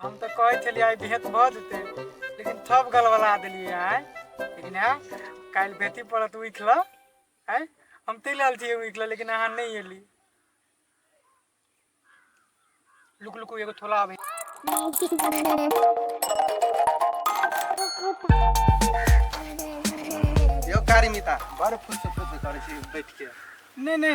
हम तऽ कहै छलियै आइ भेँट भऽ जेतै लेकिन थप गलबला देलियै आइ लेकिन आइ काल्हि भेटी पड़त उठि लऽ आइ हम तै लेल छियै उठि लऽ लेकिन अहाँ नहि एली लुक लुक एगो थोला आबै यो कारिमिता बड़ फुस फुस करै छी बैठ के नहि नहि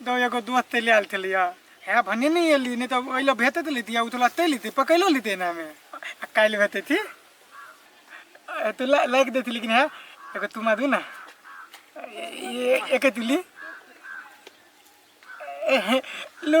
दो एगो दोस्त ले आयल छलै है भने नहि एली नहि तऽ ओहि लए भेते तऽ लेती उतला ते लेती पकैलो लेती एना में आ काल्हि भेते थी तो लाइक देती लेकिन है एगो तुम आदू ना एक तुली लो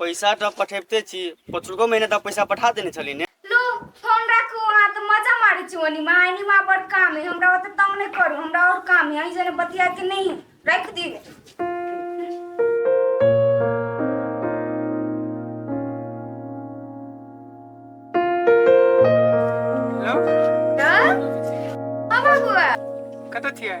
पैसा तऽ पठेबते छी पचुको महीना तऽ पैसा पठा देने छली ने लो फोन राखू अहाँ तऽ मजा मारै छी ओनी माँ एनी माँ बड़ काम है हमरा ओते तंग नहीं करू हमरा और काम है अहीं जने बतिया के नहीं रख दी हेलो हाँ बाबुआ कतऽ छियै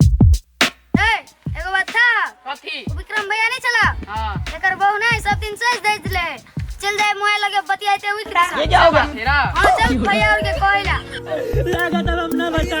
ए एगो बात था कथी उ विक्रम भैया नहीं चला हाँ एकर बहू नहीं सब दिन सज दे दिले चल जाए मोबाइल लगे बतियाते हुई किरा ये क्या होगा तेरा हां चल भैया और के कहला लगा तब हम ना बचा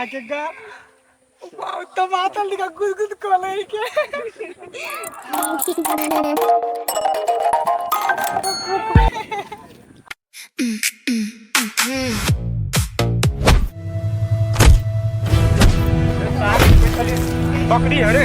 आके गा वाह टमाटर लिखा गुद गुद कोले के बकरी हरे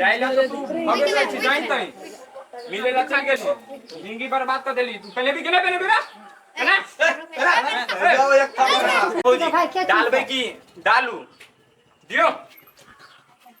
जाइला तो तू भगे जाय छी जाइन तई मिले ला चल गेली जिंदगी बर्बाद कर देली तू पहले भी गेले पहले भी ना है ना जाओ एक काम करा। भौजी डालबे की डालू दियो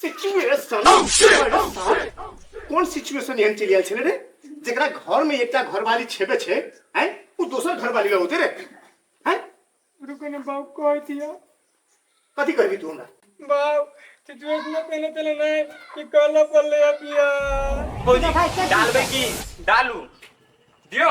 सिचुएशन oh, oh, कोन सिचुएशन एहन चलि आयल छलै रे जकरा घर में एकटा घरवाली छेबे छै हैं ओ दोसर घरवाली लग होते रे हैं रुको ने बाप कह दिया कथी कहबी तू हमरा बाप सिचुएशन पहले पहले नहीं कि कहला पड़ले अबिया भौजी डालबे की डालू दियो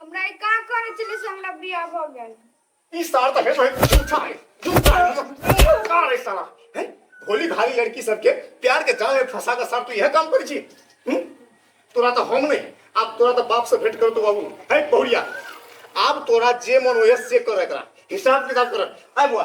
हमरा ई का करे चले से हमरा बियाह भ गेल ई सार त है तो है झूठा है झूठा है झूठा है साला हैं भोली भाली लड़की सब के प्यार के जाल में फंसा का सार तू यह काम कर जी हम्म? तोरा तो हम नहीं अब तोरा तो बाप से भेंट कर तो बाबू है बहुरिया अब तोरा जे मन होए से कर एकरा हिसाब किताब कर आय बुआ